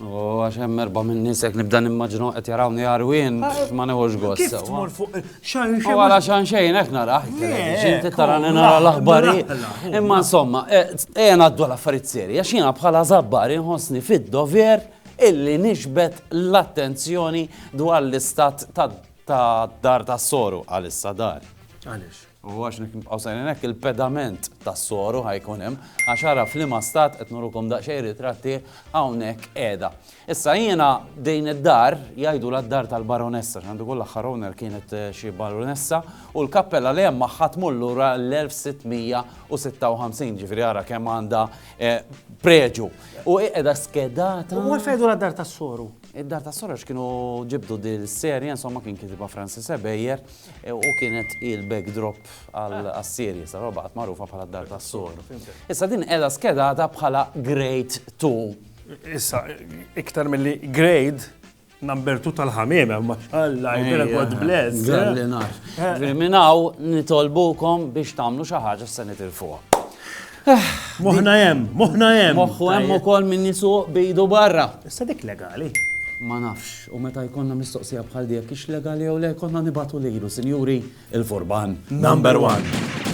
O, għax hemm erba' minn nies hekk nibda nimmaġinhom qed jarawni għarwien ma neħux gost. Kif tmur fuq xan xejn. Wara xan xejn qed narah. Inti tarani nara l-aħbarijiet. Imma insomma, e, e ngħaddu l-affarijiet serji, għax jiena bħala żabbar inħossni fid-dover illi nixbet l-attenzjoni dwar l-istat ta' dar tas-soru għalissa dar. Għaliex? U għax jekk nibqgħu sejrin hekk, il-pedament tas-soru ħa jkun hemm, għax ara f'liema stat, qed nurukom daqsxejn ritratti, hawnhekk qiegħda. Issa jiena din id-dar jgħidulha d-dar tal-baronessa, għax għandu jkun l-aħħar owner kienet xi baronessa, u l-kappella li hemm magħha tmur lura l-1656, ġifieri ara kemm għandha preġu. U hi qiegħda skedata. U għalfejn jgħidulha d-dar tas-soru? Id-dar tas-soru għax kienu ġibdu din is-serje, insomma kien kitibha Francis Ebejer. U kienet hi l-backdrop għas-serie, saru baqgħet magħrufa bħala d-Dar tas-Sogħor. Issa din qiegħda skedata bħala Grade Two. Issa, iktar milli Grade number two tal-ħamiem, ma xalla, jibera God bless. Għalli nar. Minnaw nitolbukom biex tamlu xaħġa s-sanitir fuq. Moħna hemm, moħna hemm. Moħħu hemm ukoll min jisuq bejdu barra. Issa dik legali. Ma nafx, u meta jkollna mistoqsija bħal dik, ix legali jew le jkollna nibatu lilu, sinjuri, il-furban. Number one.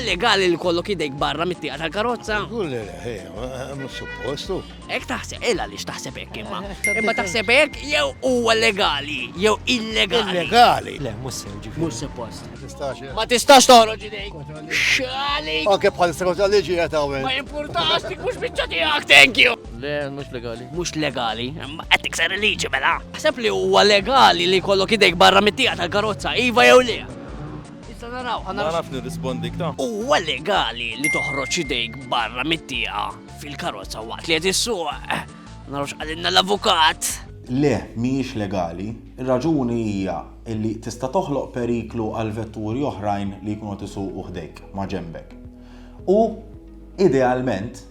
legali li kollok idejk barra mit-tieqa tal-karozza. Kulli, eh, eh, eh, mhux suppostu. Hekk taħseb, il għaliex taħseb hekk imma. Imma taħseb hekk jew huwa legali jew illegali. Illegali. Le, mhux sew ġifieri. Mhux suppost. Ma tistax toħroġ idejk. Xali. Anke bħal sekot liġi qed hawn. Ma jimpurtax dik mhux biċċa tiegħek, thank you. Le, mhux legali. Mhux legali, imma qed tikser il-liġi mela. Ħseb li huwa legali li kollok idejk barra mit-tija tal-karozza, iva jew le. Issa naraw, ħanaraw. Ma naf nirrispondik ta'. Huwa legali li toħroġ idejk barra mit-tija Fil-karozza waqt li qed issuq. Narux għalinna l-avukat. Le, mhijiex legali. Ir-raġuni hija li tista' toħloq periklu għal vetturi oħrajn li jkunu qed isuqu ħdejk, maġenbek. U, idealment,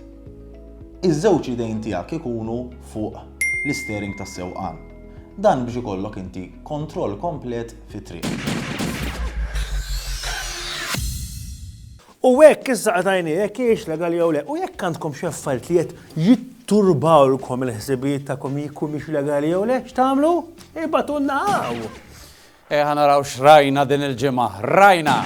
iż-żewġ idejn tiegħek ikunu fuq l-isteering tas-sewqan. Dan biex ikollok inti kontroll komplet fit-triq. U hekk issa qtajnieh jekk hijiex legali jew le. U jekk għandkom xi affarijiet li qed jitturbawlkom il-ħsibijiet tagħkom jekk humiex legali jew le, x'tagħmlu? Ibagħtulna hawn! Ejja naraw x'rajna din il-ġimgħa. Rajna!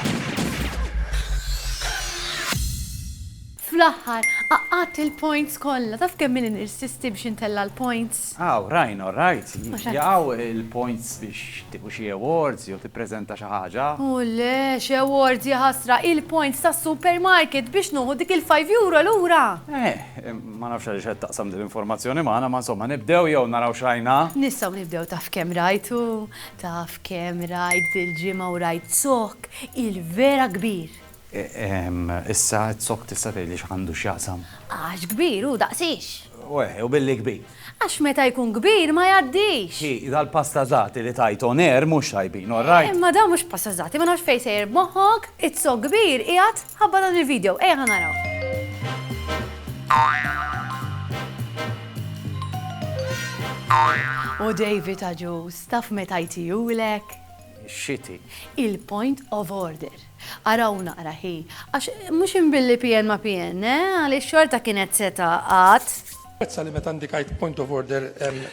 Fl-aħħar, qaqqadt il-points kollha. Taf kemm ili nirsisti biex intella' l-points? Aw, Ryan, all right. Jaqgħu l-points biex tieħu xi awards jew tippreżenta xi ħaġa? O le, x'awards, jaħasra, hi l-points tas-supermarket biex nuħu dik il-five euro lura! Eh, ma nafx għaliex qed taqsam din l-informazzjoni magħna, ma insomma, nibdew jew naraw x'rajna? Nistgħu nibdew taf kemm rajt u taf kemm rajt dil-ġimgħa u rajt zokk il-vera kbir! Issa qed sokk tista' tgħidli x'għandu x'jaqsam? Għax kbir hu daqs hix. U eh, u billi kbir. Għax meta jkun kbir ma jgħaddix. Hi, dal-pastażati li tgħid on air mhux tajbin, all right? Imma dawn mhux pastażati, ma nafx fejn sejjer b'moħħok, qed sokk kbir qiegħed ħabba dan il-video, ejja ħa naraw. O David għaġuż, taf meta jtihulek? Ix-xiti. Il-point of order. Araw naqra hi, għax mhux inbilli PN ma' PN, eh, għaliex xorta kienet se tgħaqad. Napprezza li meta ndikajt point of order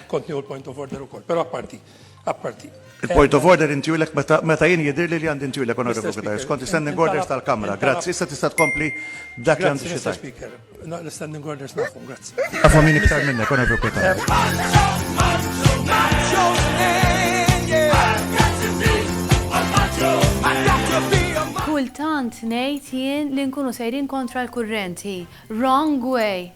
kont nieħu l-point of order ukoll, però apparti, apparti. Il-point of order intielek meta jien jidhirli li għandi ntielek, Onorevoli Cutajar, skont is-standing orders tal-Kamra. Grazzi, issa tista' tkompli b'dak li għandek xi tgħid. Grazzi, Mr. Speaker. Naqli standing orders nafhom, grazzi. Għafu min iktar minna, kona fi kota. Kultant nejt jien li nkunu sejrin kontra l-kurrenti. Wrong way.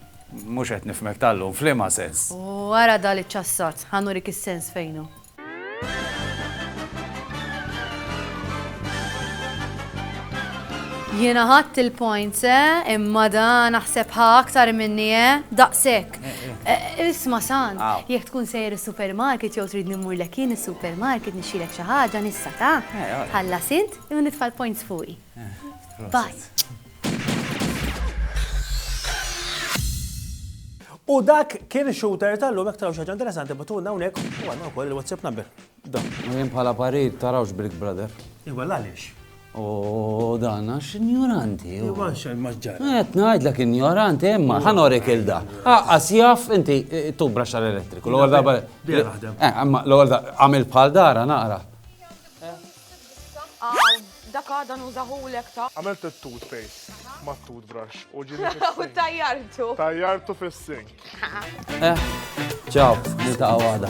Mux għet nifmek tal-lum, flima sens. U għara dal-ċassat, ħanurik il-sens fejnu. Jiena ħadt il-points, eh? Imma da naħseb ħa aktar minni, eh? Daqshekk. Eh, eh. Eh, isma' sant, jekk tkun sejjer is-supermarket jew trid nimmur lek jien is-supermarket nixxilek xi ħaġa nissa ta'. Ħalla sint, jew nitfa' l-points fuqi. Bye. U dak kien ix-shooter tal-lum, jekk taraw xi ħaġa interessanti batulna hawnhekk u għandna wkoll il-WhatsApp number. Dan. U jien bħala parir tarawx Brick Brother. Iwa għaliex. U dan għax injoranti. Iwa xejn ma ġġar. Qed ngħidlek injoranti imma ħanorek il da. Aqqas jaf inti eh, tu braxxar elettriku. L-ewwel darba. Dejja naħdem. Eh, imma l-ewwel għamil bħal dara naqra. Aw, dak għada nużahulek ta. Għamilt it-toothpaste mat-toothbrush u ġieli fis-sink. U tajjartu. Tajjartu fis-sink. Ċaw, niltaqgħu għada.